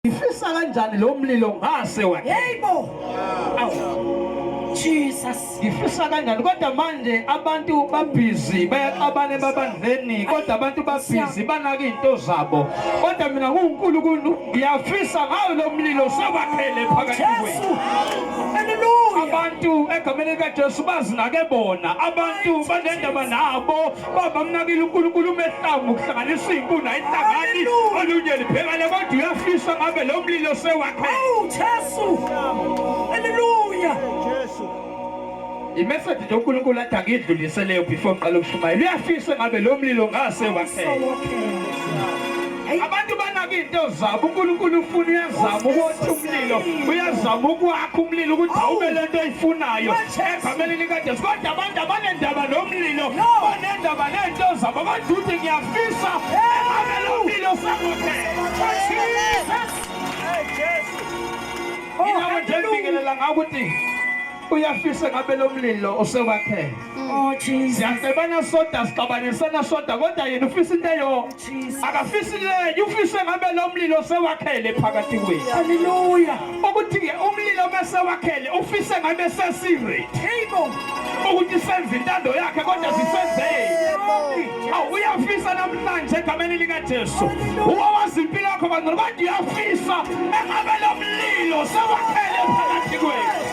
Ifisa kanjani lo mlilo ngase wakhe? Yebo. Jesus. Ngifisa kanjani kodwa manje abantu babhizi bayaxabana ebabandleni kodwa abantu babhizi banaka izinto zabo. Kodwa mina kuNkulunkulu ngiyafisa ngawo lo mlilo sewakhele phakathi kwethu. abantu egameni likaJesu bazinake bona abantu banendaba nabo Baba amnakile uNkulunkulu umehlangu ukuhlanganisa izinkuni ayihlangani olunye liphekale kodwa uyafisa ngabe lo mlilo sewakhe. Awu Jesu. Haleluya. Jesu. Imessage nje uNkulunkulu athi angidluliseleyo before ngiqala ukushumayela. Uyafisa ngabe lo mlilo ngase wakhe. abantu banaka into zabo unkulunkulu ufuna uyazama ukuthi umlilo uyazama ukwakha umlilo ukuthi awube le nto oyifunayo egameni likajesu kodwa abantu abanendaba nomlilo banendaba neento zabo kodwa uthi ngiyafisa egameni umlilo sangophela inako nje ngibingelela ngako ukuthi uyafise ngabe lomlilo osewakhele oh jesus siyacebana soda sixabanisana soda kodwa yena ufisa into eyo akafisi lenye ufise ngabe lo mlilo sewakhele phakathi kwethu haleluya ukuthi-ke umlilo bese wakhele ufise ngabe sesireti ukuthi senze intando yakhe kodwa zisenzeki awu uyafisa namhlanje egameni likajesu uwa wazi impilo yakho bangcolo kodwa uyafisa engabe lo mlilo sewakhele phakathi kwethu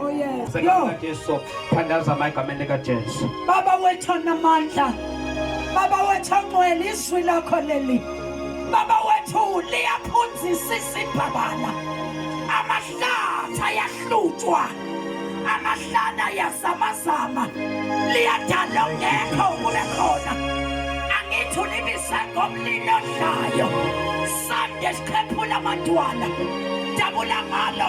Oh yes. Yo. Jesu, thandaza amagama likaJesu. Baba wethu namandla. Baba wethu ongcwele izwi lakho leli. Baba wethu liyaphunzisa isibhabala. Amahlathi ayahlutshwa. Amahlana ayazamazama. Liyadala ongekho kube khona. Angithi ulibise ngomlilo odlayo. Sande sikhephula amadwala. Dabula ngalo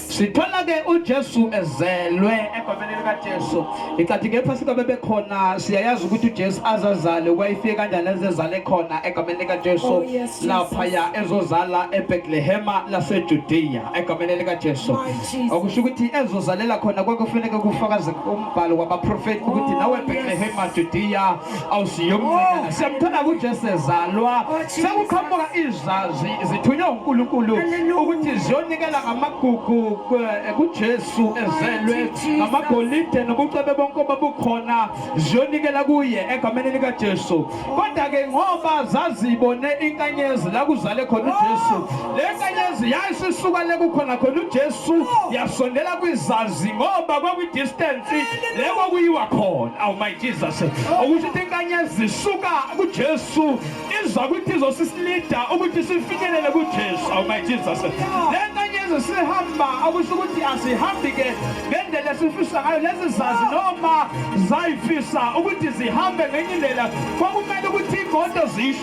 sithola ke uJesu ezelwe egomeni likaJesu icathi kepha sika bebekhona siyayazi ukuthi uJesu azazale wayefike kanjani ezezale khona egomeni likaJesu oh, lapha ya ezozala eBethlehem laseJudea egomeni likaJesu okusho ukuthi ezozalela khona kwakufanele kufakaze umbhalo wabaprofeti ukuthi nawe oh, Bethlehem Judea awusiyomnqina siyamthanda kuJesu ezalwa sekuqhamuka izazi zithunywe uNkulunkulu ukuthi ziyonikela ngamagugu kuJesu ezelwe ngamagolide nobucebe bonke obabukhona ziyonikela kuye egameni likaJesu kodwa ke ngoba zazibone inkanyezi la kuzale khona uJesu le nkanyezi yayisisuka le kukhona khona uJesu yasondela kwizazi ngoba kwakwi distance le kwakuyiwa khona awu my jesus ukuthi into inkanyezi zisuka kujesu iza ukuthi izosisilida ukuthi sifinyelele kujesu awu my jesus le nkanyezi sihamba akusho ukuthi asihambi ke ngendlela esifisa ngayo lezi zazi noma zayifisa ukuthi zihambe ngenye indlela kwakumele ukuthi imoto zisho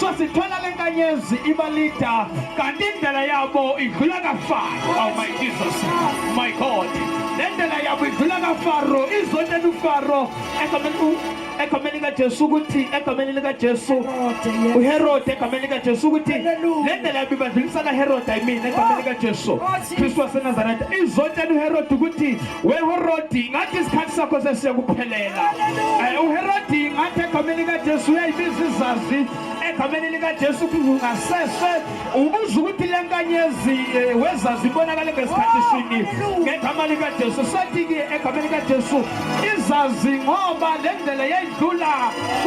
so sithola le nkanyezi ibalida kanti indlela yabo idlula kafaro oh my jesus my god le ndlela yabo idlula kafaro izonela ufaro egameni likajesu ukuthi egameni likajesu uherode egameni likajesu ukuthi le ndlela yabo ibadlulisa kaherode ayimina egameni likajesu Kristu waseNazaretha izotshela uHerodi ukuthi weHerodi ngathi isikhathi sakho sesiyakuphelela eh, uHerodi ngathi egameni kaJesu uyayibiza izazi egameni likaJesu kungasese ubuza ukuthi le nkanyezi eh, wezazi ibonakale ngesikhathi sini ngegama likaJesu sethi-ke egameni likaJesu izazi ngoba le ndlela yayidlula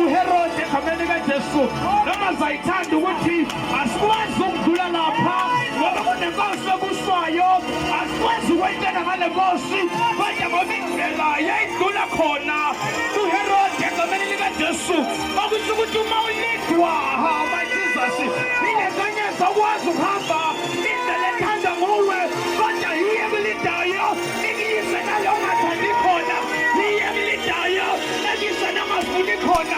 uHerodi egameni likaJesu noma zayithanda ukuthi Asikwazi ukudlula lapha ngoba kunenkosi ebusayo. Asikwazi ukwentela ngale nkosi kodwa ngoba indlela yayidlula khona kuHerode egameni likaJesu okusho ukuthi uma ulidwa hamba Jesus nile kanye sakwazi ukuhamba indlela ethanda nguwe kodwa yiye kulidayo ikuyise nalongathandi khona yiye kulidayo ekuyise nangafuni khona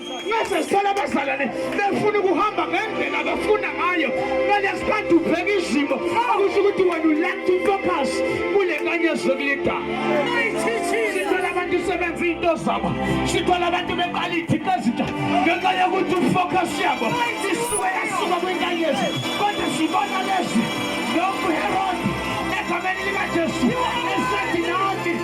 Mese sithola abazalwane befuna ukuhamba ngendlela abafuna ngayo ngale sikhathi ubheka izimo okusho ukuthi wena ulack to focus kule nkanyezo kulida sithola abantu sebenza iy'nto zabo sithola abantu beqala iy'thixo ezintsha ngenxa yokuthi ufocus yabo isuke yasuka kwinkanyezi kodwa sibona lezi nokuherodi egameni likajesu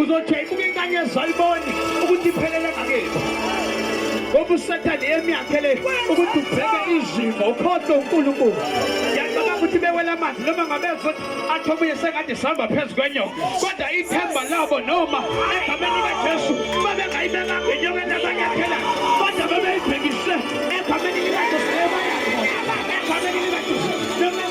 uzothi ayibuke inkanyezi ayiboni ukuthi iphelele ngakibo ngoba usathane yemi yakhe le ukuthi ubheke izimo ukhohlwe unkulunkulu yacabanga ukuthi bewela amanzi noma ngabezothi athi omunye sengathi sihamba phezu kwenyoka kodwa ithemba labo noma egameni likajesu babengayibeka ngenyokeni abanyathela kodwa babeyibhekise egameni likajesu ebayakhona egameni likajesu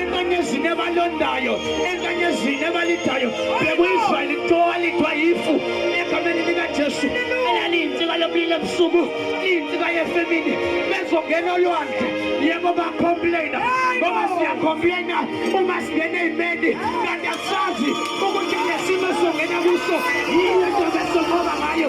enkanyezini ebalondayo enkanyezini ebalidayo bekuyisrayeli kuthiwa lithwa yifu egameni likajesu eyaliyinsika lomlilo ebusuku liyinsika yefemini bezongena olwandle yebo bacomplaina ngoba siyacomplaina uma singena eyimeni kanti asazi ukuthi lesimo songena kuso yiyo into besoqoba ngayo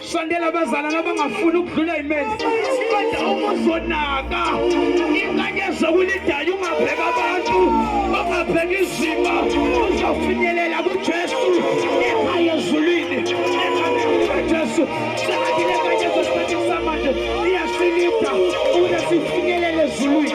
Sondela abazalana abangafuni ukudlula imeli. Kodwa uma uzonaka inkanyezo kulidala ungabheka abantu, ungabheka izimo, uzofinyelela kuJesu ekhaya ezulwini. Jesu, sengathi le nkanyezo esikhathi samanje iyasilida ukuze sifinyelele ezulwini.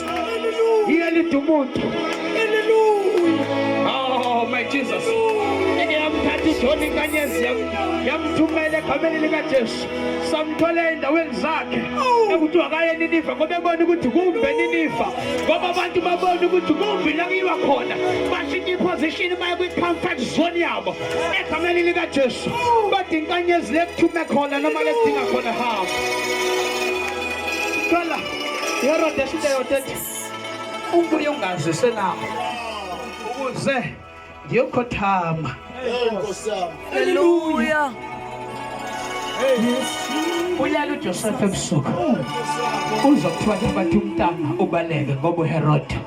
iyelida umuntu oh my jesus yamthatha ijoni inkanyezi yamthumela egameni likajesu samthola endaweni zakhe ekuthiwa kaye niniva ngoba ebona ukuthi kumbe niniva ngoba abantu babona ukuthi kumbi la kuyiwa khona bashintsha iposition baye kwi-comfort zone yabo egameni likajesu kodwa inkanyezi lekuthume khona noma lekudinga khona hamba yerodesiteyotethi umbuye ungazise lapho ukuze ngiyokhothama haleluya uyala ujosefa ebusuku uzokuthiwa njengathi umntana ubaleke ngoba uherode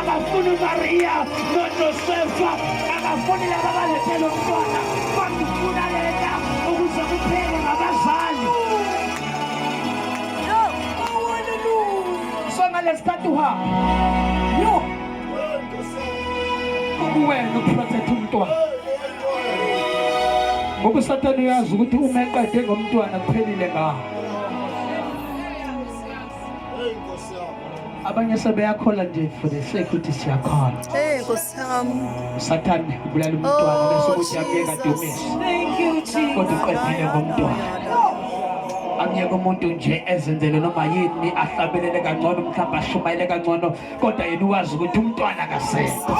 akafuni umariya nojosefa akafuni laba balethele umntwana bakufuna lena ukuze kuphele ngabazali so ngalesi khathi uhamba yo ukuwena uprotect umntwana ngoba usathane uyazi ukuthi uma eqede ngomntwana kuphelile ngaho abanye sebeyakhola nje for the sake ukuthi siyakhona hey nkosi yami usathane ubulala umntwana oh, bese ukuthi akuyeka dumisa kodwa uqedile ngomntwana amyeke umuntu nje ezenzele noma yini ahlabelele kangcono mhlawumbe ashumayele kangcono kodwa yena uwazi ukuthi umntwana kasekho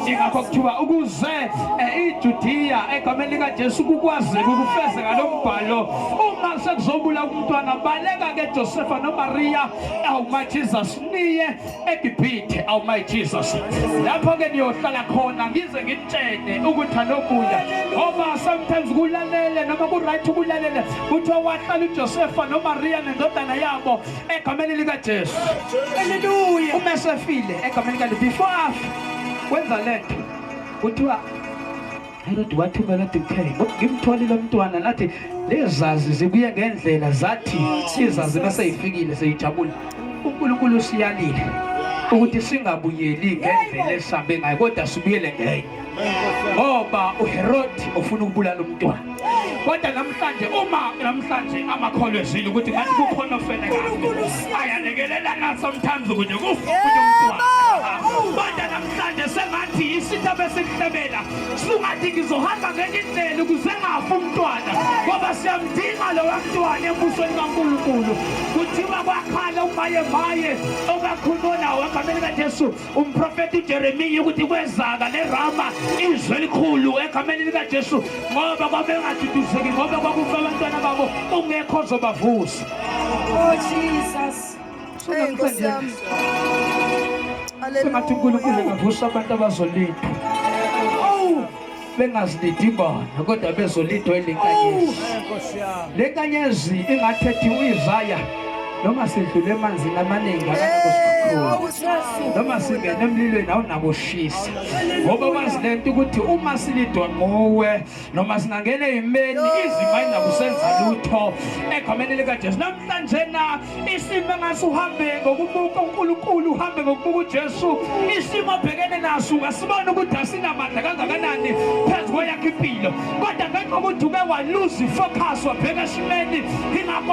ingakho kuthiwa ukuze eh, ijudiya egameni likajesu kukwazeka ukufezeka lo mbhalo uma sekuzobula umntwana baleka ke josefa nomariya awuma jesus niye egibhithe awuma jesus lapho ke niyohlala khona ngize ngitshene ukuthi anokuya ngoba sometimes kulalele noma kuright ukulalele kuthiwa wahlala ujosefa nomariya nendodana yabo egameni likajesu haleluya uma esefile egameni likajesu before afe wenza lento kuthiwa Herod wathumela ukuthi kutheni ngimtholile umntwana nathi lezazi zibuye ngendlela zathi izazi maseyifikile seyijabule uNkulunkulu usiyalile ukuthi singabuyeli ngendlela esambe ngayo kodwa sibuyele ngenye ngoba uHerodi ufuna ukubulala umntwana kodwa namhlanje uma namhlanje amakholwa ezile ukuthi ngathi kukhona ofele kahle ayalekelelana sometimes ukuthi kufuke umntwana Manje sengathi yisitha besimhlebela sungathi ngizohamba ngenye indlela ukuze ngafi umntwana ngoba siyamdinga lowa mntwana embusweni kaNkulunkulu kuthiwa kwakhala umaye maye okakhulunywa nawo egameni kaJesu umprofeti uJeremiya ukuthi kwezaka lerama izwe elikhulu egameni likaJesu ngoba kwabengaduduzeki ngoba kwakufa abantwana babo ungekho ozobavusa oh Jesus Hey Nkosi yami. Sengathi uNkulunkulu engavusa abantu abazolinda. Oh, bengazilindi bona kodwa bezolindwa ilenkanyezi. Le nkanyezi ingathethi uyizaya noma sidlule emanzini amaningi akanakusikhulu noma singene emlilweni awunakushisa ngoba wazi le nto ukuthi uma silidwa nguwe noma singangena eyimeni izima ingakusenza lutho egameni likajesu namhlanje na isimo engase uhambe ngokubuka unkulunkulu uhambe ngokubuka ujesu isimo obhekene naso ungasibona ukuthi asinamandla kangakanani phezu kweyakho impilo kodwa ngenxa ukuthi uke waluza ifocus wabheka esimeni ingakho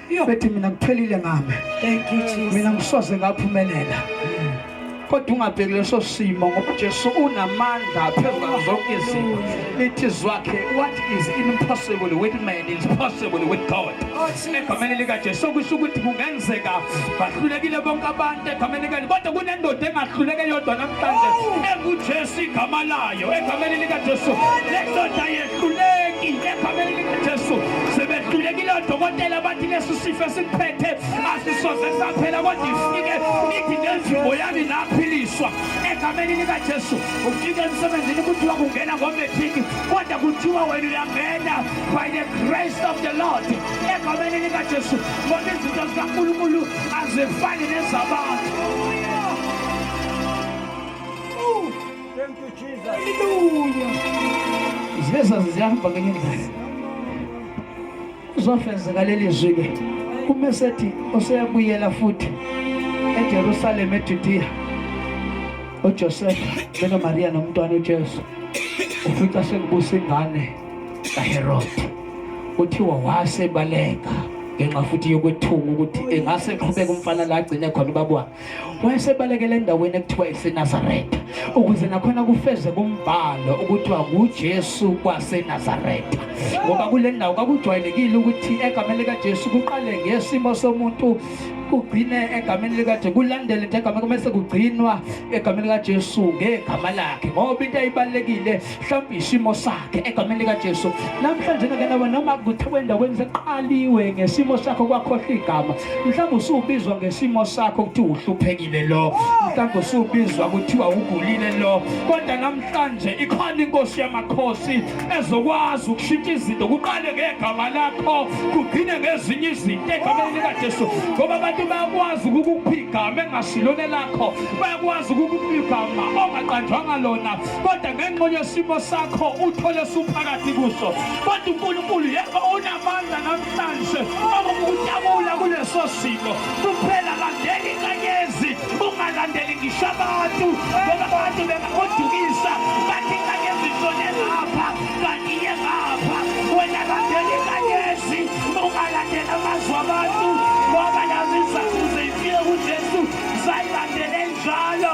iyobethi mina ngiphelile ngami thank you jesus mina ngisoze ngaphumelela kodwa ungabheki leso simo ngoba Jesu unamandla phezulu zonke izimo lithi zwakhe what is impossible with man is possible with God egameni lika Jesu okusho ukuthi kungenzeka bahlulekile bonke abantu egameni lika kodwa kunendoda engahluleke yodwa namhlanje enguJesu igama layo egameni lika Jesu lendoda Sebehluleki egameni likaJesu. Sebehlulekile odokotela bathi lesi sifo esikuphethe asisoze saphela kodwa ifike ithi nenzimo yami naphiliswa egameni likaJesu. Ufike emsebenzini kuthiwa kungena ngometriki kodwa kuthiwa wena uyangena by the grace of the Lord egameni likaJesu ngoba izinto zikaNkulunkulu azifani nezabantu. Thank you Jesus. Hallelujah. Ziveza ziyahamba ngenye indlela. Uzofezeka leli zwi ke. Kume sethi oseyabuyela futhi eJerusalem eJudea. uJosefa beno Maria nomntwana uJesu ufica sekubusa ingane kaHerode kuthiwa wasebaleka ngenxa futhi yokwethuka ukuthi engase eqhubeke umfana la agcine khona ubabwakhe wayesebalekela endaweni ekuthiwa isenazaretha ukuze nakhona kufeze kumbhalo ukuthiwa ngujesu kwasenazaretha ngoba kule ndawo kwakujwayelekile ukuthi egameni likajesu kuqale ngesimo somuntu kugcine egameni likaJesu kulandele into egameni kumese kugcinwa egameni likaJesu ngegama lakhe ngoba into ayibalekile mhlawumbe isimo sakhe egameni likajesu namhlanje ngekenawe noma kuthiwa endaweni seqaliwe ngesimo sakho kwakhohlwa igama mhlawumbe usubizwa ngesimo sakho ukuthi uhluphekile lo mhlawumbe usubizwa kuthiwa ugulile lo kodwa namhlanje ikhona inkosi yamakhosi ezokwazi ukushintsha izinto kuqale ngegama lakho kugcine ngezinye izinto egameni likajesu ngoba abantu bayakwazi ukukupha igama engasilona lakho bayakwazi ukukupha igama ongaqanjwanga lona kodwa ngenxa yesimo sakho uthole suphakathi kuso kodwa unkulunkulu yebo unamandla namhlanje okukutabula kuleso simo kuphela landela inkanyezi ungalandeli ngisho abantu ngoba abantu bengakudukisa bathi inkanyezi ishone ngapha kanti iye ngapha wena landela inkanyezi ungalandeli amazwi abantu ngoba nazo izakuze ifike kujesu zayilandele njalo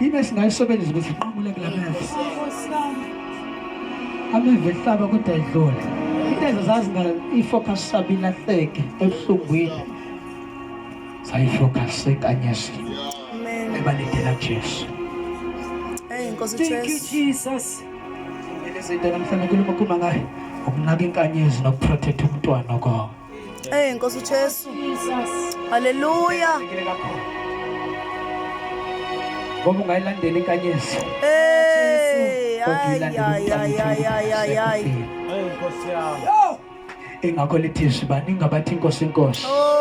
Yini esingayisebenzisa ukuthi iqubule kula meva? Ameva ehlaba kodwa idlule. Into ezazazi ngayo i-focus sabo ilahleke ebuhlungwini. Sayi-focus ekanyesi. Ebalindela Jesu. Hey, Nkosi Jesu. Thank you Jesus. Ngelezinto namhlanje kuluma khuma ngayo. Ukunaka inkanyezi nokuprotect umntwana kwakho. Hey eh, Nkosi uJesu. Haleluya. Ngoba ungayilandela inkanyezi. Hey. Ay ay ay ay ay ay. Hey Nkosi yami. Ingakho lithi sibani ngabathi Nkosi Nkosi. Oh.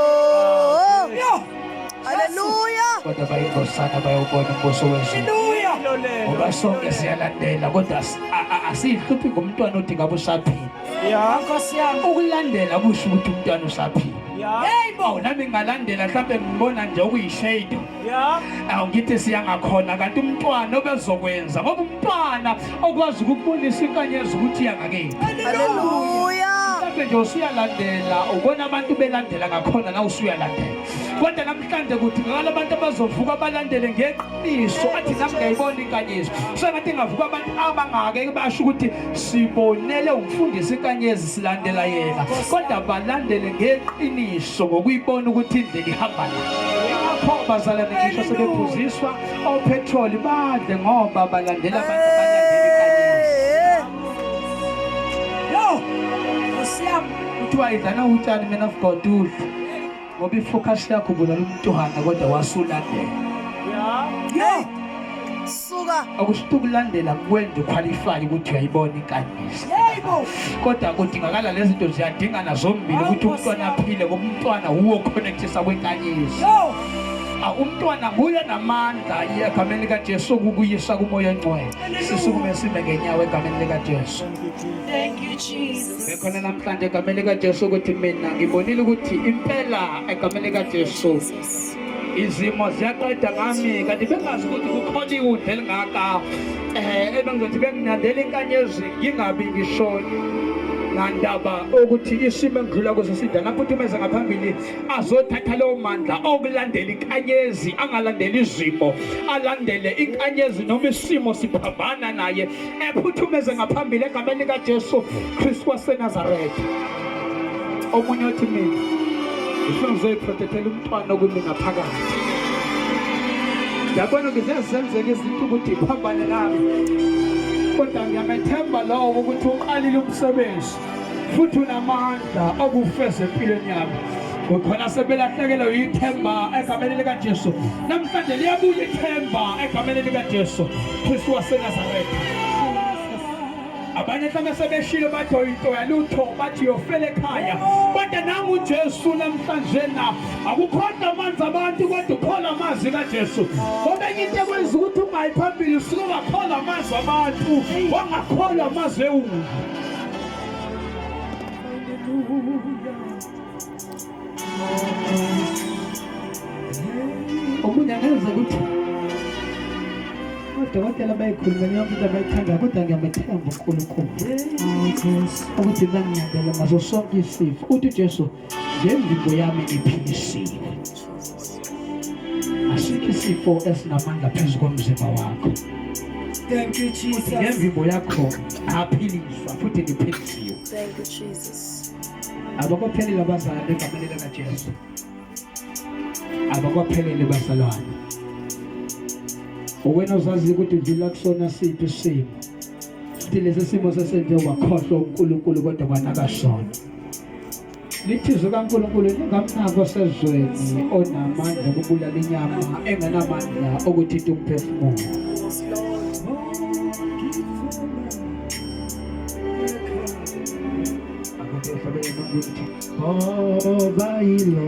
Haleluya. Kodwa bayingosana bayobona umbuso wezulu. Haleluya. Ngoba sonke siyalandela kodwa asihluphi ngomntwana othi ngabe usaphila. ya nkosi yami ukulandela kusho ukuthi umntwana usaphila yeyi bo nami ngalandela mhlawumbe ngibona nje okuyishade awu ngithi siyangakhona kanti umntwana obezokwenza ngoba umntwana okwazi ukukubonisa inkanyezi ukuthi yangakephi mhlawumbe nje usuyalandela ubona abantu belandela ngakhona na usuyalandela kodwa namhlanje kudingakala abantu abazovuka balandele ngeqiniso athi nami ngayibona inkanyezi sengathi ngavuka abantu abangake basho ukuthi sibonele umfundisi inkanyezi silandela yena kodwa balandele ngeqiniso ngokuyibona ukuthi indlela ihamba la lapho bazalane ngisho sebephuziswa ophethroli badle ngoba balandela abantu kuthiwa idlana utshani man of god udla ngoba ifocus yakho ubulala umntwana kodwa wasulandela yeah suka akushito ukulandela kwenza uqualify ukuthi uyayibona inkandiso kodwa kudingakala lezi zinto ziyadingana zombili ukuthi umntwana aphile ngoba umntwana wuwo connectisa kwenkanyiso Ah, umntwana nguye namandla egameni likajesu okukuyisa kumoya ongcwele sisukume sime ngenyawo egameni likajesu Ngikhona namhlanje egameni likaJesu ukuthi mina ngibonile ukuthi impela egameni likaJesu izimo ziyaqeda ngami kanti bengazi ukuthi kukhona iwundla elingaka um ebengizothi benginandela inkanyezi ngingabi ngisho nandaba ukuthi isimo engidlula kuso sidala aphuthumenze ngaphambili azothatha lowo mandla okulandela inkanyezi angalandeli izimo alandele inkanyezi noma isimo siphambana naye ephuthumeze ngaphambili egameni likaJesu Kristu waseNazaretha omunye othi mina ngifuna ngizoyiprotethela umntwana okumi ngaphakathi yabona ngiziyazenzeka izinto ukuthi phambane nami kodwa ngiyamethemba lowo ukuthi uqalile umsebenzi futhi unamandla okufeza empilweni yami kukhona sebelahlekelwe yithemba egameni likaJesu namhlanje liyabuya ithemba egameni likaJesu Kristu waseNazaretha abanye mhlawumbe sebeshilo bathi oyinto yalutho bathi yofela ekhaya kodwa nangu ujesu namhlanje na akukhona amanzi abantu kodwa ukhona amazwi kajesu kodwa enye into ekwenza ukuthi ungayi phambili usuke ungakholwa amazwi abantu wangakholwa amazwi ewundi omunye angeze ukuthi odokotela bayikhuluma leyo muntu abayithandayo kodwa ngiyamethemba unkulunkulu ukuthi bangiyabela ngaso sonke isifo uthi ujesu ngemvimbo yami iphilisile asikho isifo esinamandla phezu komzimba wakho Thank you Jesus. Ngemvimbo yakho aphiliswa futhi ngiphilisiwe. Thank you Jesus. Abakophelele abazalwane egameni lika Jesu. Abakophelele bazalwane. Uwena uzazi ukuthi vila kusona siphi isimo. Futhi lesi simo sesenze wakhohlwa uNkulunkulu kodwa kwanakashona. Lithizwe kaNkulunkulu lingamnako sezweni onamandla okubulala inyama engenamandla okuthinta umphefumulo. Ngoba yilo